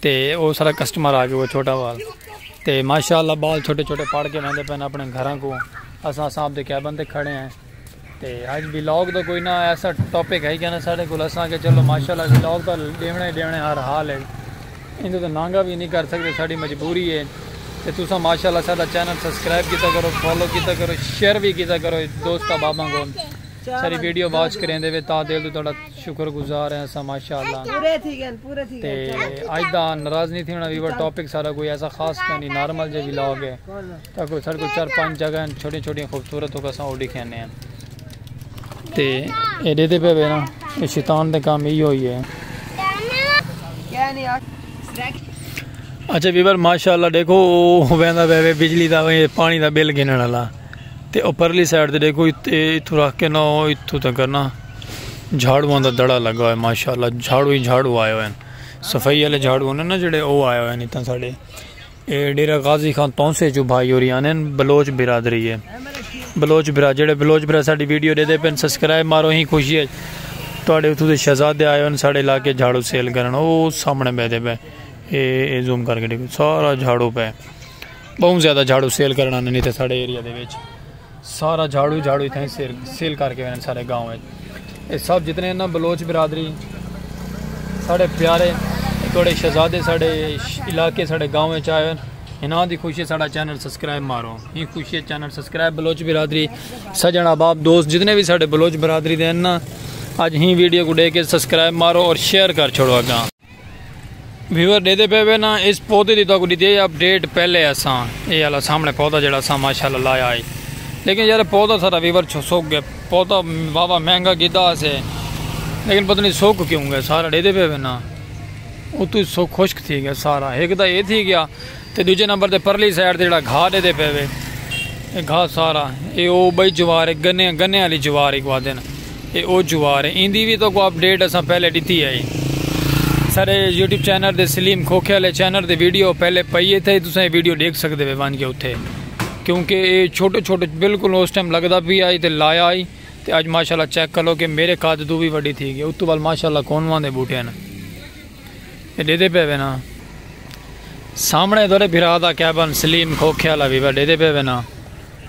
تے او سارا کسٹمر آ گئے چھوٹا وال تے ماشاءاللہ بال چھوٹے چھوٹے پڑھ کے ویندے پن اپنے گھراں کو اساں اساں اپ دے کیبن تے کھڑے ہیں تے اج ولاگ دا کوئی نہ ایسا ٹاپک ہے کہ نہ ساڈے کول اساں کہ چلو ماشاءاللہ ولاگ دا دیونے دیونے ہر حال ہے ایندے تو نانگا بھی نہیں کر سکدے ساڈی مجبوری ہے تے تساں ماشاءاللہ ساڈا چینل سبسکرائب کیتا کرو فالو کیتا کرو شیئر بھی کیتا کرو دوست احباباں کو ساری ویڈیو واچ کریندے وے تا دل تو تہاڈا شکر گزار ہیں اساں ماشاءاللہ تے اج دا ناراض نہیں تھیونا ویور ٹاپک سارا کوئی ایسا خاص کونی نارمل جے ولاگ ہے تا کوئی سارے کوئی چار پانچ جگہ ہیں چھوٹی چھوٹی خوبصورت ہو کساں اوڈی کھینے ہیں تے اے دے دے پہ بے نا اے شیطان دے کام ہی ہوئی ہے اچھا ویور ماشاءاللہ دیکھو ویندہ بے بے بجلی دا پانی دا بل گنن اللہ تے اوپرلی سائٹ دے دیکھو اتھو رکھ کے نہ اتھو تک کرنا جھاڑواں دا دڑا لگا ہوئے ماشاءاللہ جھاڑو ہی جھاڑو آئے ہوئے ہیں صفائی والے جھاڑو ہونے نا جڑے او آئے ہوئے ہیں اتنا ساڑے اے ڈیرہ غازی خان تونسے جو بھائی ہو رہی آنے بلوچ برادری ہے بلوچ برا جڑے بلوچ برا ساڑی ویڈیو دے دے پین سسکرائے مارو ہی خوشی ہے توڑے اتھو دے شہزادے آئے ہوئے ہیں ساڑے علاقے جھاڑو سیل کرن او سامنے بے دے پے اے اے زوم کر کے دیکھو سارا جھاڑو پے بہت زیادہ جھاڑو سیل کرن آنے نہیں تھے ساڑے ایریا دے بیچ سارا جھاڑو ہی جھاڑو اتھاں سیل سیل کر کے ویندے سارے گاؤں وچ اے سب جتنے نا بلوچ برادری ساڈے پیارے تھوڑے شہزادے ساڈے علاقے ساڈے گاؤں وچ آئے انہاں دی خوشی ساڈا چینل سبسکرائب مارو ہی خوشی چینل سبسکرائب بلوچ برادری سجن احباب دوست جتنے بھی ساڈے بلوچ برادری دے نا اج ہی ویڈیو کو دے کے سبسکرائب مارو اور شیئر کر چھوڑو اگاں ویور ڈیدے پے وے نا اس پودے دی تاکو ڈیتی ہے اپ ڈیٹ پہلے اساں اے والا سامنے پودا جڑا اساں ماشاءاللہ لایا ہے لیکن یار پودا سارا ویور چھو سوک گیا پودا بابا مہنگا گیدا اسے لیکن پتہ نہیں سوک کیوں گیا سارا ڈیدے پے وے نا اتو سوک خشک تھی گیا سارا ایک دا اے تھی گیا تے ڈوجھے نمبر تے پرلی سائیڈ تے جیڑا گھا ڈیدے پئے وے اے گھا سارا اے او بئی جوار اے گنے گنے آلی جوار اک وادن اے او جوار اے ایندی وی توکو اپ ڈیٹ اساں پہلے ڈتی اے سارے یوٹیوب چینل دے سلیم کھوکھے والے چینل دے ویڈیو پہلے پئی اے تھے تساں اے ویڈیو ڈیکھ سکدے وے وان کے اوتھے کیونکہ اے چھوٹے چھوٹے بالکل اس ٹائم لگدا پی آئی تے لایا آئی تے اج ماشاءاللہ چیک کرو کہ میرے قد تو وی وڈی تھی گئی اتو بال ماشاءاللہ کون وان دے بوٹے ہیں ڈیدے پے وینا سامنے تھوڑے بھرا دا کیبن سلیم کھوکھے والا بھی ڈیدے پے وینا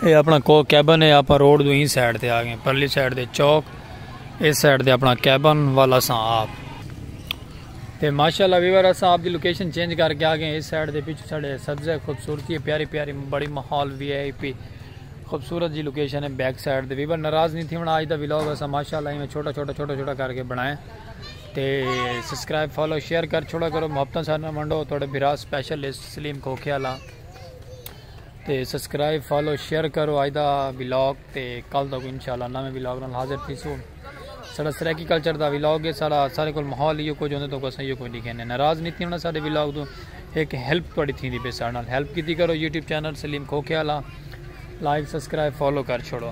اے اپنا کو کیبن ہے آپ روڈ دو ہی سائڈ تے آ گئے پرلی سائڈ دے چوک اس سائڈ دے اپنا کیبن والا سا آپ تے ماشاءاللہ ویور اسا آپ دی لوکیشن چینج کر کے آ گئے اس سائڈ دے پیچھے ساڑے سبزہ خوبصورتی ہے پیاری پیاری بڑی ماحول وی آئی پی خوبصورت جی لوکیشن ہے بیک سائڈ دے ویور ناراض نہیں تھی ہن اج دا ولاگ اسا ماشاءاللہ ایویں چھوٹا چھوٹا چھوٹا چھوٹا کر کے بنائے تے سبسکرائب فالو شیئر کر چھوڑا کرو محبتاں سارے نال ونڈو تھوڑے بھرا اسپیشلسٹ سلیم کھوکھے والا تے سبسکرائب فالو شیئر کرو اج دا ولاگ تے کل تک انشاءاللہ نویں ولاگ نال حاضر تھیسو سارا سرائیکی کلچر دا ولاگ ہے سارا سارے کول ماحول ایو کچھ ہوندے تو کو سہیو کوئی لکھے نے ناراض نہیں ہونا سارے ولاگ تو ایک ہیلپ تھوڑی تھیندی پے سارے نال ہیلپ کیتی کرو یوٹیوب چینل سلیم کھوکھے والا لائک سبسکرائب فالو کر چھوڑو